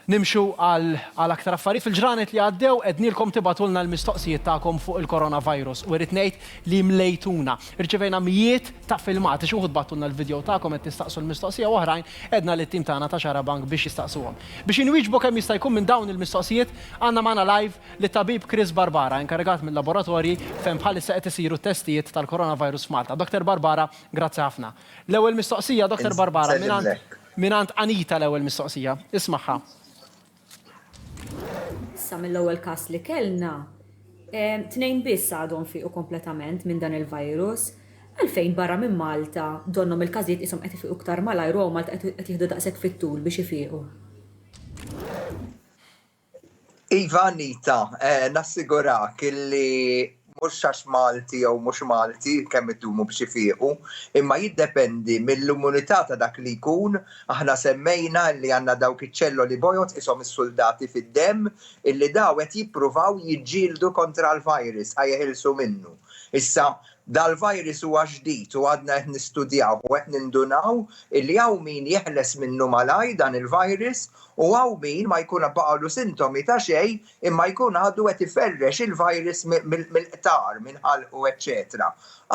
Nimxu għal aktar affarijiet. Fil-ġranet li għaddew għednielkom tibgħatulna l-mistoqsijiet tagħkom fuq il-coronavirus u irrid ngħid li mlejtuna. Irċevejna mijiet ta' filmati. Xi wħud bagħtulna l-vidjow tagħkom qed tistaqsu l-mistoqsija u oħrajn għedna lit-tim tagħna ta' Xarabank biex jistaqsuhom. Biex inwieġbu kemm jista' jkun minn dawn il-mistoqsijiet, għandna magħna live lit-tabib Chris Barbara, inkarigat mil-laboratorji fejn bħalissa qed isiru t-testijiet tal-coronavirus f'Malta. Doktor Barbara, grazzi ħafna. L-ewwel mistoqsija, Doktor Barbara, mingħand. Mingħand Anita l-ewwel mistoqsija. Ismagħha. Issa mill-ewwel każ li kellna, tnejn biss għadhom fiequ kompletament minn dan il-virus. Għalfejn barra minn Malta donnhom il-każijiet qishom qed ifiqu iktar malajr u hawn Malta qed jieħdu daqshekk fit-tul biex ifiqu? Iva Anita, eh, nassigurak illi mhux għax Malti jew mhux Malti kemm iddumu biex ifiqu, imma jiddependi mill-immunità ta' dak li jkun, aħna semmejna li għandna dawk iċ-ċelloli bojod ishom is-suldati fid-demm illi daw qed jippruvaw jiġġieldu kontra l-virus ħa jeħilsu minnu. Issa Dal-virus huwa ġdid u għadna qed nistudjawh u qed nindunaw illi hawn min jeħles minnu malajr dan il-virus u hawn min ma jkun baqgħulu sintomi ta' xejn imma jkun għadu qed iferrex il-virus mill-qtar, minn ħalqu eċċetera.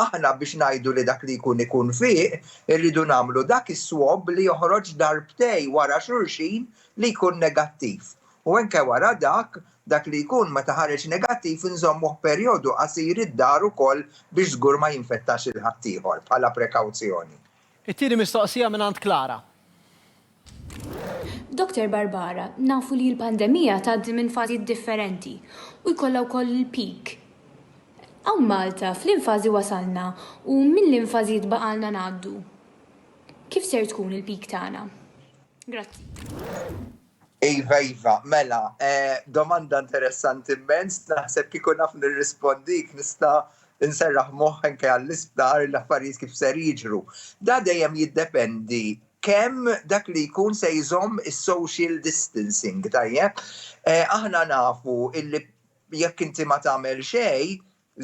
Aħna biex ngħidu li dak li jkun ikun fih irridu nagħmlu dak is-swab li joħroġ darbtej wara xulxin li jkun negattiv. U anke wara dak, dak li jkun meta ħareġ negattiv inżommuh perjodu qasir id-dar ukoll biex żgur ma jinfettax lil ħaddieħor, bħala prekawzjoni. It-tieni mistoqsija mingħand Clara. Doctor Barbara, nafu li l-pandemija tgħaddi minn fażijiet differenti u jkollha wkoll il-peak. Hawn Malta f'liem fażi wasalna u minn liem fażijiet baqgħalna ngħaddu? Kif ser tkun il-peak tagħna? Grazzi. Iva, iva, mela, eh, domanda interessanti immens, naħseb kieku naf nirrispondik nista' nserraħ moħħ anke għall-isptar l-affarijiet kif ser jiġru. Da dejjem jiddependi kemm dak li jkun se jżomm is-social distancing, tajjeb? Eh, aħna nafu illi jekk inti ma tagħmel xejn,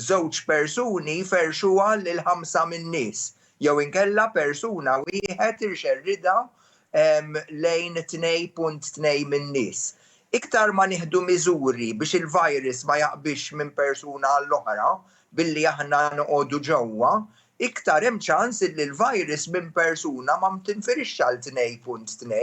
Żewġ persuni jferrxuha lil ħamsa min-nies, jew inkella persuna wieħed irxerridha lejn 2.2 min-nies. Iktar ma nieħdu miżuri biex il-virus ma jaqbiżx minn persuna għall-oħra billi aħna noqogħdu ġewwa, iktar hemm ċans illi l-virus minn persuna ma tinfirexx għal 2.2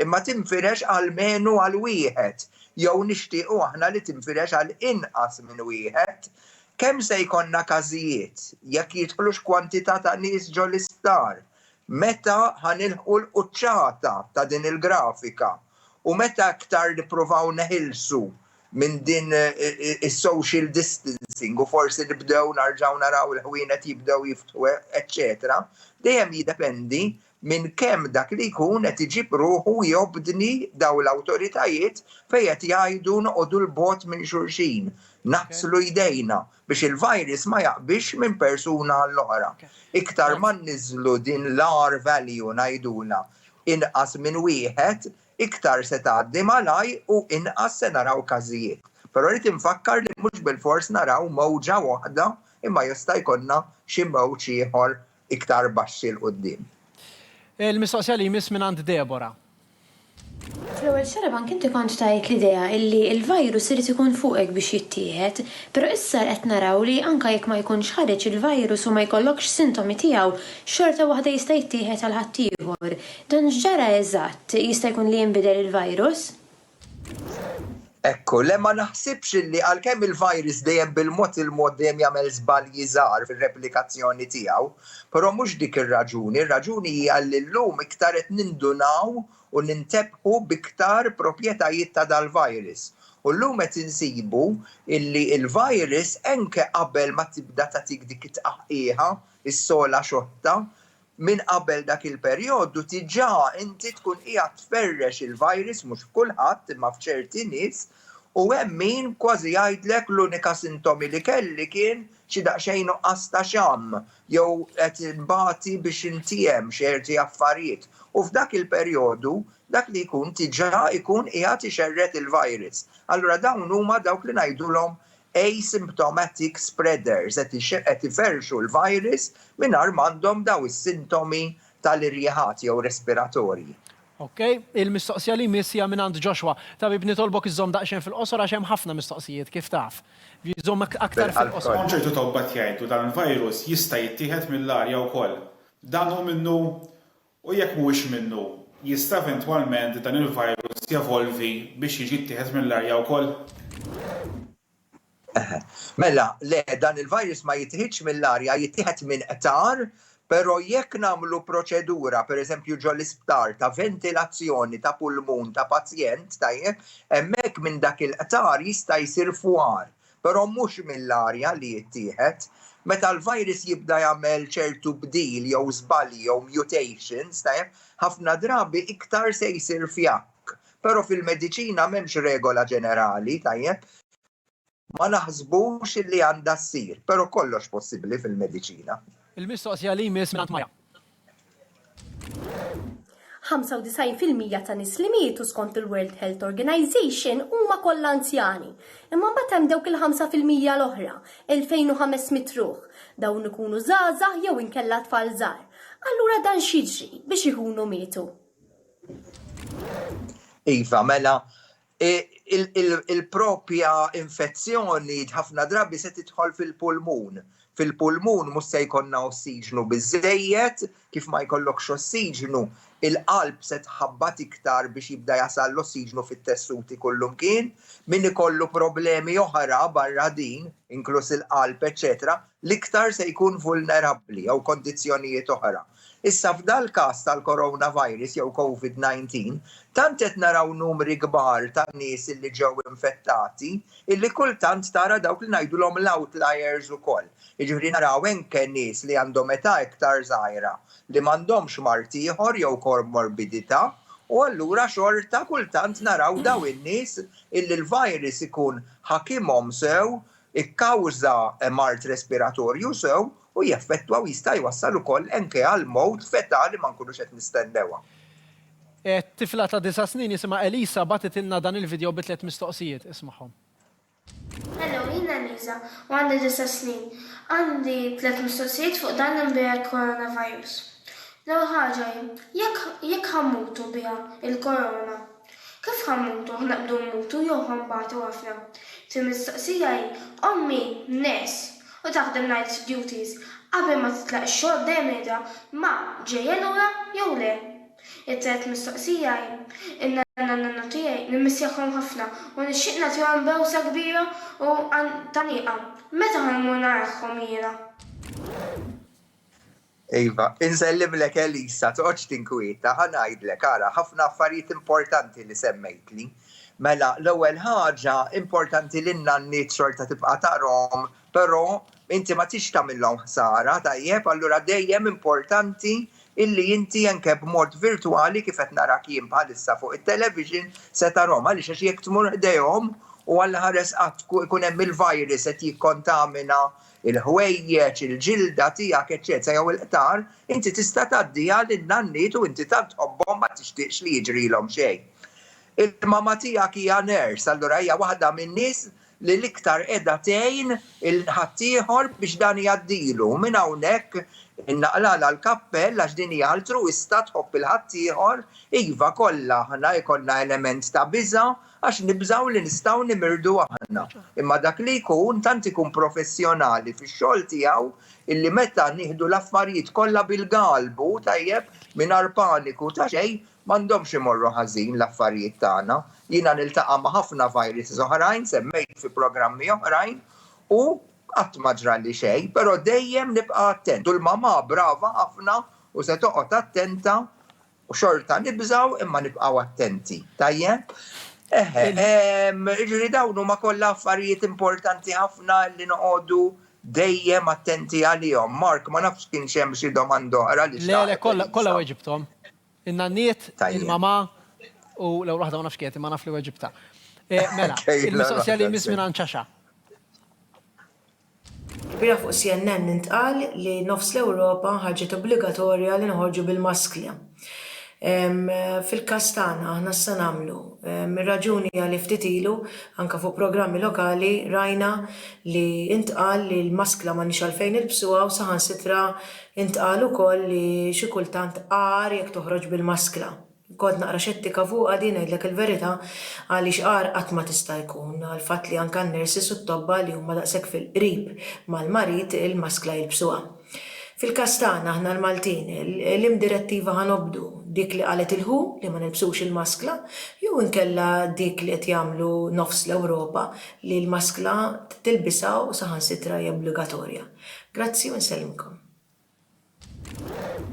imma tinfirex almenu għal wieħed, jew nixtiequ aħna li tinfirex għal inqas minn wieħed. Kemm se jkollna każijiet? Jekk jidħlux kwantità ta' nies ġol-isptar? Meta ħa nilħqu l-quċċata ta' din il-grafika? U meta iktar nippruvaw neħilsu minn din is-social distancing u forsi nibdew narġgħu naraw il-ħwienet jibdew jiftħu eċċetera, dejjem jiddependi minn kemm dak li jkun qed iġib ruħu jobdni dawn l-awtoritajiet fejn qed jgħidu noqogħdu 'l bogħod minn xulxin, naħslu jdejna, biex il-virus ma jaqbix minn persuna għall-oħra. Iktar ma nniżżlu din l-R value ngħidulha, inqas minn wieħed, Iktar se tgħaddi malajr u inqas se naraw każijiet. Però rrid infakkar li mhux bilfors naraw mewġa waħda imma jista' jkollna xi mewġ ieħor iktar baxxi 'l quddiem. Il-mistoqsija li jmiss mingħand Deborah. Fl-ewwel xahar anke inti kont tajt l-idea li l-virus irid ikun fuqek biex jittieħed, però issa qed naraw li anke jekk ma jkunx ħareġ il-virus u ma jkollokx sintomi tiegħu, xorta waħda jista' jittieħed għal ħaddieħor. Dan x'ġara eżatt? Jista' jkun li jinbidel il-virus? Ekku, le ma naħsibx li għalkemm il-virus dejjem bil-mod il-mod dejjem jagħmel żbalji żgħar fir-replikazzjoni tiegħu, però mhux dik ir-raġuni, ir-raġuni hija li llum iktar qed nindunaw u nintebħu b'iktar propjetajiet ta' dal-virus. U llum qed insibu li l-virus enke qabel ma tibda tagħtik dik it-tqaħqiħa, is-sogħla xoħta, minn qabel dak il-perjodu diġà inti tkun qiegħed tferrex il-virus mhux f'kulħadd imma f'ċerti nies u hemm min kważi jgħidlek l-unika sintomi li kelli kien xi daqsxejn nuqqas ta' xamm jew qed inbati biex intiehem xerti affarijiet u f'dak il-perjodu dak li jkun diġà jkun qiegħed ixerred il-virus. Allura dawn huma dawk li ngħidulhom asymptomatic spreaders, qed iferrxu l-virus mingħajr m'għandhom dawn is-sintomi tal-irjiħat jew respiratorji. Ok, il-mistoqsija li jmiss hija mingħand Joshua. Tabib nitolbok iżżomm daqsxejn fil-qosor għax hemm ħafna mistoqsijiet, kif taf. Żomm aktar fil-qosor. Hawn ċertu tobba qed jgħidu dan il-virus jista' jittieħed mill-arja wkoll. Dan hu minnu u jekk mhuwiex minnu, jista' eventwalment dan il-virus jevolvi biex jiġi ttieħed mill-arja wkoll? Eħe. Mela, le, dan il-virus ma jittieħidx mill-arja, jittieħed minn qtar, però jekk nagħmlu proċedura, pereżempju ġol-isptar, ta' ventilazzjoni ta' pulmun ta' pazjent, tajjeb, hemmhekk minn dak il-qtar jista' jsir fwar, però mhux mill-arja li jittieħed. Meta l-virus jibda jagħmel ċertu bdil jew żbalji jew mutations, tajjeb, ħafna drabi iktar se jsir fjakk. Però fil-mediċina m'hemmx regola ġenerali, tajjeb. Ma naħsbux li għandha ssir, però kollox possibbli fil-mediċina. Il-mistoqsija li jmiss mingħand Maya. 95% ta' nies li mietu skont il-World Health Organization huma kollha anzjani. Imma mbagħad hemm dawk il-5% l-oħra, 2500 ruħ. Dawn ikunu żgħażagħ jew inkella tfal żgħar. Allura dan x'jiġri biex ikunu mietu? Iva, mela, il-proprja infezzjoni ħafna drabi se tidħol fil-pulmun. Fil-pulmun mhux se jkollna ossiġnu biżejjed, kif ma jkollokx ossiġnu, il-qalb se tħabbat iktar biex jibda jasal l-ossiġnu fit-tessuti kullumkien. Min ikollu problemi oħra barra din, inkluż il-qalb, eċċetera, l-iktar se jkun vulnerabbli jew kondizzjonijiet oħra. Issa f'dal-każ tal-coronavirus jew Covid 19, tant qed naraw numri kbar ta' nies li ġew infettati illi kultant tara dawk li ngħidulhom l-outliers ukoll. Jiġifieri naraw anke nies li għandhom età iktar żgħira li m'għandhomx mard ieħor jew komorbidità u allura xorta kultant naraw dawn in-nies illi l-virus ikun ħakimhom sew, ikkawża mard respiratorju sew u jeffettwa u jista' jwassal ukoll anke għal mewt f'età li ma nkunux qed nistennewha. Tifla ta' disa' snin jisimha Elisa bagħtitilna dan il-vidjow bi tliet mistoqsijiet. Ismagħhom. Hello, jien Elisa u għandi disa' snin. Għandi tliet mistoqsijiet fuq dan l-imbiegħed coronavirus. L-ewwel ħaġa hi, jekk jekk ħa mmutu biha, il-korona, Kif ħa mmutu aħna qbdu mmutu jew ħa nbatu aħna? Tim mistoqsija hi ommi nurse u taħdem night duties qabel ma titlaq ix-xogħol dejjem ngħidha ma ġejja lura jew le? It-tielet mistoqsija hi in-nanna u n-nonnu tiegħi nimmissjahom ħafna u nixtieq nagħtihom bewsa kbira u taniqa. Meta ħa mmur narahom jiena? Iva, insellimlek Elisa, toqgħodx tinkwieta, ħa ngħidlek, ara, ħafna affarijiet importanti li semmejtli. Mela, l-ewwel ħaġa, importanti li n-nanniet xorta tibqa' tarahom, però inti ma tridx tagħmilhom ħsara, tajjeb, allura dejjem importanti illi inti anke b'mod virtwali kif qed narak jien bħalissa fuq it-television se tarahom, għaliex għax jekk tmur ħdejhom u Alla ħares qatt ikun hemm il-virus qed jikkontamina il-ħwejjeġ, il-ġilda tiegħek, eċċetera jew il-qtar, inti tista' tgħaddiha lin-nanniet u inti tant tħobbhom ma tixtieqx li jiġrilhom xejn. Il-mama tiegħek hija nurse, allura hija waħda min-nies li l-iktar qiegħda tgħin il-ħaddieħor biex dan jgħaddilu. Minn hawnhekk innaqlalha l-kappell għax din hija altruwista tħobb il-ħaddieħor. Iva, kollha aħna jkollna element ta' biża', Għax nibżgħu li nistgħu nimirdu aħna. Imma dak li jkun tant ikun professjonali fix-xogħol tiegħu illi meta nieħdu l-affarijiet kollha bil-galbu, tajjeb, mingħajr paniku ta' xejn, m'għandhomx imorru ħażin l-affarijiet tagħna. Jiena niltaqa' ma' ħafna viruses oħrajn, semmejt fi programmi oħrajn, u qatt ma ġrali xejn, però dejjem nibqa' attent. U l-mamà brava ħafna u se toqgħod attenta U xorta nibżaw imma nibqaw attenti. Tajjeb? Eħe, ġiri dawn huma kollha affarijiet importanti ħafna li noqogħdu dejjem attenti għalihom. Mark, ma nafx kien xem xi domanda oħra li Le, le, kollha weġibthom. In-nanniet, il-mama u l-ewwel waħda ma nafx kienet imma naf li weġibta. Eh, mela, il-mistoqsija li jmiss minn ċaxa. Ilbieraħ fuq CNN intqal li nofs l-Ewropa ħarġet obbligatorja li noħorġu bil-maskla. Fil-każ tagħna aħna x'se nagħmlu? Ir-raġuni hija li ftit ilu, anke fuq programmi lokali, rajna li ntqal li l-maskla m'għandniex għalfejn nilbsuha u saħansitra ntqal ukoll li xi kultant agħar jekk toħroġ bil-maskla. Kont naqra xettika fuqha din ngħidlek il-verità għaliex agħar qatt ma tista' jkun għall-fatt li anke n-nurses u t-tobba li huma daqshekk fil-qrib mal-marid il-maskla jilbsuha. Fil-każ tagħna aħna l-Maltin liema direttiva ħa nobdu, dik li qalet il-who li ma nilbsux il-maskla jew inkella dik li qed jagħmlu nofs l-Ewropa li l-maskla tilbisha u saħansitra hija obbligatorja? Grazzi u nsellmkom.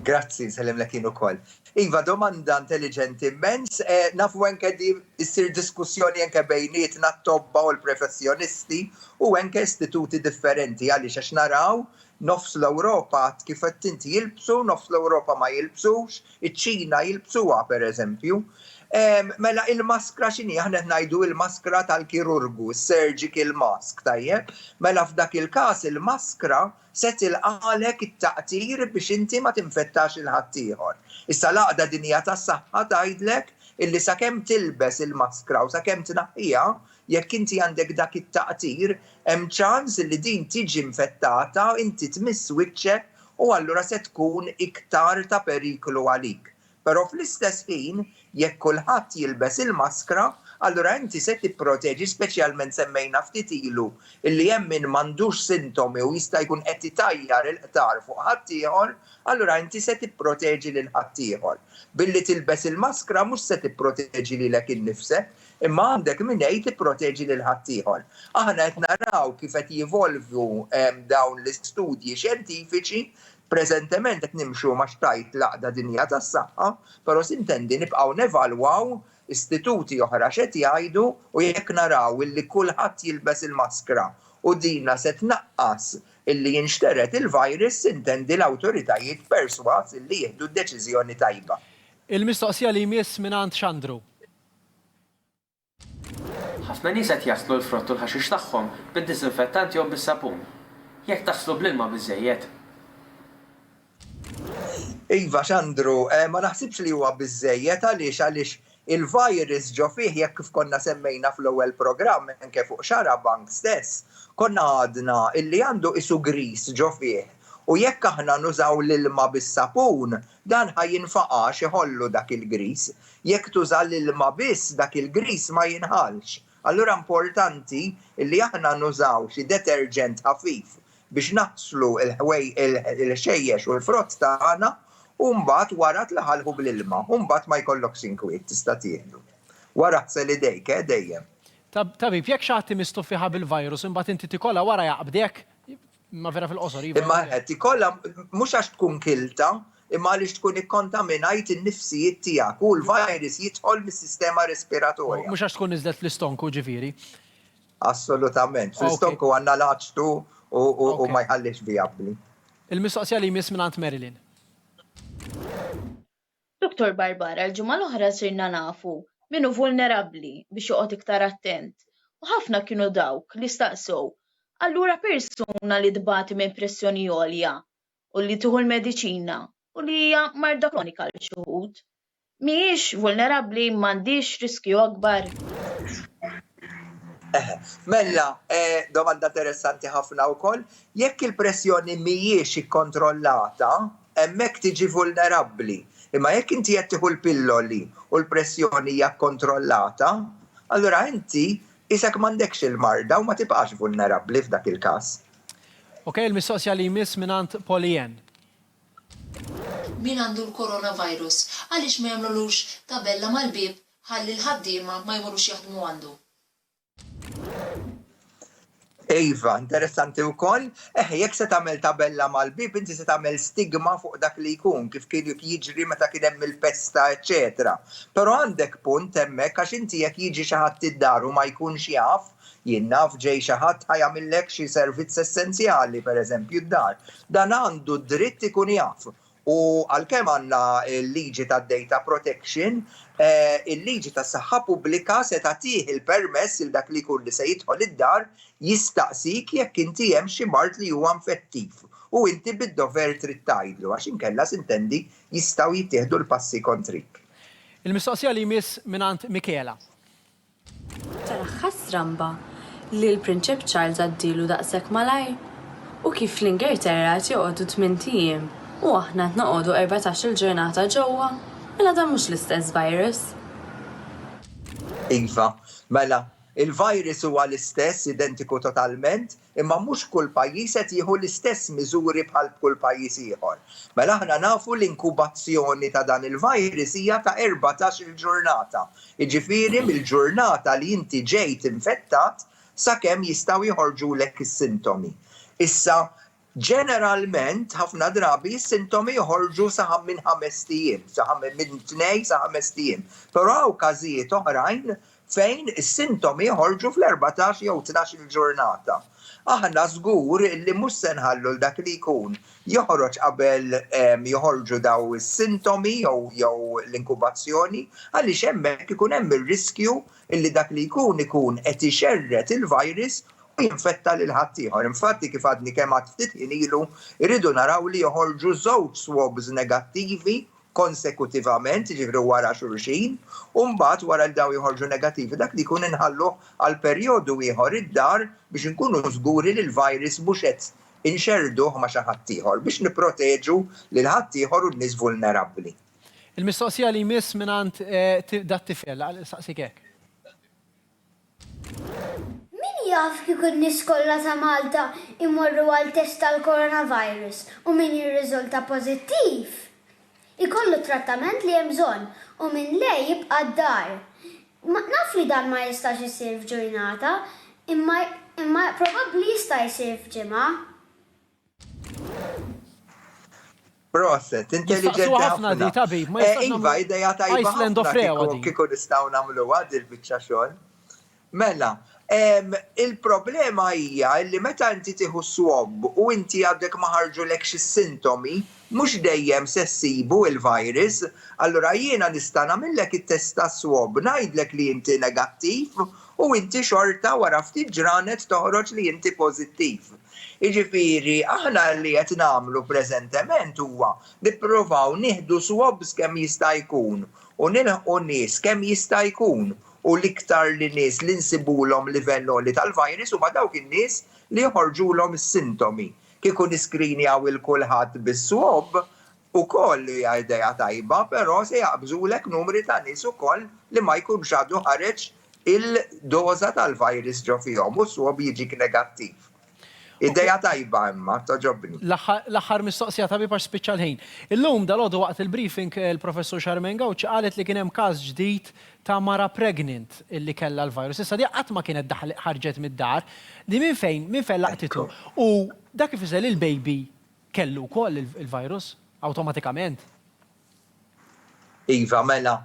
Grazzi, nsellimlek jien ukoll. Iva, domanda intelliġenti immens. Nafu anke li ssir diskussjoni anke bejnietna t-tobba u l-professjonisti u anke istituti differenti. Għaliex? Għax naraw nofs l-Ewropa, kif għedt inti, jilbsu, nofs l-Ewropa ma jilbsux, iċ-Ċina jilbsuha pereżempju. Mela il-maskra x'inhi? Aħna qed ngħidu il-maskra tal-kirurgu, is-surgical mask, tajjeb? Mela f'dak il-każ il-maskra se tilqagħlek it-taqtir biex inti ma tinfettax lil ħaddieħor. Issa l-Għaqda Dinjija tas-Saħħa tgħidlek illi sakemm tilbes il-maskra u sakemm tnaħħiha, jekk inti għandek dak it-taqtir, hemm ċans illi din tiġi infettata, inti tmiss wiċċek u allura se tkun iktar ta' periklu għalik. Però fl-istess ħin, jekk kulħadd jilbes il-maskra, allura inti se tipproteġi, speċjalment semmejna ftit ilu li hemm min m'għandux sintomi u jista' jkun qed itajjar il-qtar fuq ħaddieħor, allura inti se tipproteġi lil ħaddieħor. Billi tilbes il-maskra mhux se tipproteġi lilek innifsek, imma għandek mingħi tipproteġi lil ħaddieħor. Aħna qed naraw kif qed jivolvu dawn l-istudji xjentifiċi Preżentement qed nimxu ma' x'tgħid l-Għaqda Dinjija tas-Saħħa, però sintendi nibqgħu nevalwaw istituti oħra x'qed jgħidu u jekk naraw illi kulħadd jilbes il-maskra u dinha se tnaqqas illi jinxtered il-virus sintendi l-awtoritajiet persważ illi jieħdu d-deċiżjoni tajba. Il-mistoqsija li jmiss mingħand Xandru. Ħafna nies qed jaħslu l-frott u l-ħaxix tagħhom bid-diżinfettant jew bis-sapun. Jekk taħslu bl-ilma biżżejjed. Iva, Xandru, ma naħsibx li huwa biżżejjed. Għaliex? Għaliex il-virus ġo fih, jekk kif konna semmejna fl-ewwel programm, anke fuq Xarabank stess, konna għadna illi għandu qisu griż ġo fih. U jekk aħna nużaw l-ilma bis-sapun, dan ħa jinfaqa' għax iħollu dak il-griż. Jekk tuża l-ilma biss dak il-griż ma jinħallx. Allura importanti li aħna nużaw xi deterġent ħafif biex naħslu l-ħxejjex u l-frott tagħna u mbagħad wara tlaħalħu bl-ilma u mbagħad ma jkollokx inkwiet tista' tieħdu. Wara ħsel idejk eh dejjem. Tabib, jekk xi ħadd imiss tuffieħa bil-virus imbagħad inti tikolha wara jaqbdek? Imma vera fil-qosor, iva. Imma qed ikollha mhux għax tkun kilta, imma għaliex tkun ikkontaminajt in-nifsijiet tiegħek u l-virus jidħol mis-sistema respiratorja. Mhux għax tkun niżlet fl-istonku, ġifieri? Assolutament. Fl-istonku għandna l-aċtu u ma jħallihx vijabbli. Il-mistoqsija li jmiss mingħand Marilyn. Dottor Barbara, l-ġimgħa l-oħra sirna nafu min hu vulnerabbli biex joqgħod iktar attent u ħafna kienu dawk li staqsew, allura persuna li tbati minn pressjoni għolja u li tieħu l-mediċina u li hija marda kronika għal xi wħud, mhijiex vulnerabbli, m'għandhiex riskju akbar? Eħe. Mella, domanda interessanti ħafna wkoll, jekk il-pressjoni mhijiex ikkontrollata, hemmhekk tiġi vulnerabbli. Imma jekk inti qed tieħu l-pilloli u l-pressjoni hija kkontrollata, allura inti qisek m'għandekx il-marda u ma tibqax vulnerabbli f'dak il-każ. Ok, il-mistoqsija li jmiss mingħand Pollyann. Min għandu l-coronavirus, għaliex ma jagħmlulux tabella mal-bieb ħalli l-ħaddiema ma jmorrux jaħdmu għandu? Iva, interessanti wkoll, eh jekk se tagħmel tabella mal-bib inti se tagħmel stigma fuq dak li jkun kif kien jiġri meta kien hemm il-pesta eċetera. Però għandek punt hemmhekk għax inti jekk jiġi xi ħadd id-dar u ma jkunx jaf, jien naf ġej xi ħadd ħa jagħmillek xi servizz essenzjali pereżempju d-dar, dan għandu d-dritt ikun jaf U għalkemm għandna l-liġi tad-data protection, il-liġi tas-saħħa pubblika se tagħtih il-permess lil dak li jkun li se jidħol id-dar jistaqsik jekk inti hemm xi mard li huwa infettiv u inti bid-dover trid tgħidlu għax inkella sintendi jistgħu jittieħdu l-passi kontrik. Il-mistoqsija li jmiss mingħand Michela. Tara ħastramba li l-Prinċep Charles għaddielu daqshekk malajr? U kif fl-Ingerterra qed joqogħdu tmint ijiem u aħna qed noqogħdu erbatax-il ġurnata ġewwa? Mela dan mhux l-istess virus? Iva. Mela, il-virus huwa l-istess, identiku totalment, Imma mhux kull pajjiż qed jieħu l-istess miżuri bħal b'kull pajjiż ieħor. Mela aħna nafu l-inkubazzjoni ta' dan il-virus hija ta' erbatax-il ġurnata, jiġifieri mill-ġurnata li inti ġejt infettat sakemm jistgħu joħorġulek is-sintomi. Issa, ġeneralment, ħafna drabi s-sintomi joħorġu sa minn ħamest ijiem, minn tnejn sa ħamest ijiem, però hawn każijiet oħrajn fejn is-sintomi joħorġu fl-erbatax jew tnax-il ġurnata. Aħna żgur li mhux se nħallu 'l dak li jkun joħroġ qabel joħorġu dawn is-sintomi jew l-inkubazzjoni għaliex hemmhekk ikun hemm ir-riskju li dak li jkun ikun qed ixerred il-virus u jinfetta lil ħaddieħor. Infatti kif għadni kemm għedt ftit ħin ilu, irridu naraw li joħorġu żewġ swabs negattivi konsekutivament, jiġifieri wara xulxin, u mbagħad wara li dawn joħorġu negattivi, dak li jkun inħalluh għal perjodu ieħor id-dar biex inkunu żguri li l-virus mhux qed inxerrduh ma' xi ħadd ieħor, biex nipproteġu lil ħaddieħor u n-nies vulnerabbli. Il-mistoqsija li jmiss mingħand dat-tifel, għalhekk insaqsik hekk. Min jaf kieku n-nies kollha ta' Malta jmorru għal test tal-coronavirus u min jirriżulta pożittiv, ikollu t-trattament li hemm bżonn u min le jibqa' d-dar. Naf li dan ma jistax isir f'ġurnata, imma imma probabbli jista' jsir f'ġimgħa. Proset, intelligenti ħafna di tabib, ma eh, Iva, ideja tajba. Iceland of Rewa. Kiku nistaw namlu għad il-bicċa xol. Mela, il-problema hija li meta inti tieħu swab u inti għadek ma ħarġulek xi sintomi, mhux dejjem se ssibu il-virus, allura jiena nista' nagħmillek it-testa swab, ngħidlek li inti negattiv u inti xorta wara ftit ġranet toħroġ li inti pożittiv. Jiġifieri aħna li qed nagħmlu preżentement huwa nippruvaw nieħdu swabs kemm jista' jkun u nilħqu nies kemm jista' jkun u l-iktar li nies li nsibulhom livell għoli tal-virus huma dawk in-nies li joħorġulhom is-sintomi. Kieku niskrinjaw 'il kulħadd bis-swab, Ukoll hija idea tajba però se jaqbżulek numri ta' nies ukoll li ma jkunx għadu ħareġ il-doża tal-virus ġo fihom u s-swab jiġik negattiv. Idea tajba imma, togħġobni. L-aħħar mistoqsija tabib għax spiċċa l-ħin. Illum dalgħodu waqt il-briefing il-Professur Charmaine Gauci qalet li kien hemm każ ġdid ta' mara pregnant li kellha l-virus. Issa di qatt ma kienet daħlet ħarġet mid-dar. Di minn fejn minn fejn laqtitu? U dak ifisser li l-baby kellu wkoll il-virus awtomatikament. Iva, mela.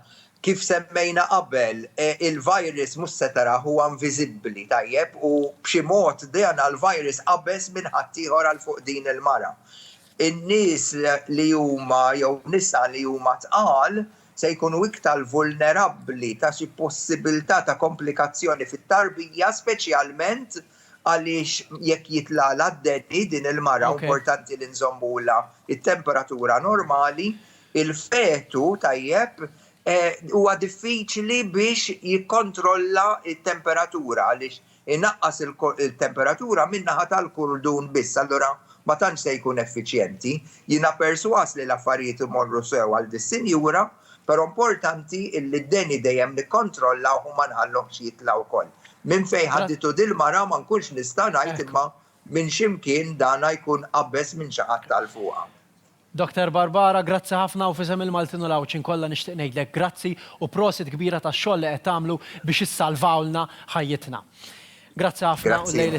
Kif semmejna qabel, il-virus mhux se tarah, huwa inviżibbli, tajjeb, u b'xi mod dan il-virus qabeż minn ħaddieħor għal fuq din il-mara. In-nies li huma jew nisa li huma tqal se jkunu iktar vulnerabbli ta' xi possibilità ta' komplikazzjoni fit-tarbija, speċjalment għaliex jekk jitlagħlha d-deni din il-mara importanti li nżommulha t-temperatura normali, il-fetu tajjeb huwa diffiċli biex jikkontrolla t-temperatura għaliex inaqqas il-temperatura min-naħa tal-kurdun biss, allura ma tantx se jkun effiċjenti. Jiena persważ li l-affarijiet imorru sew għal dis-sinjura. Però importanti illi d-deni dejjem nikkontrollawh u ma nħalluhx jitla' wkoll. Minn fejn ħaditu dil-mara ma nkunx nista' ngħid imma minn xi mkien dana jkun qabbeż minn xi ħadd għal fuqha. Doctor Barbara, grazzi ħafna u f'isem il-Maltin u l-Għawdxin kollha nixtieq ngħidlek grazzi u prosit kbira tax-xogħol li qed tagħmlu biex issalvawlna ħajjitna. Grazzi ħafna u l-lejl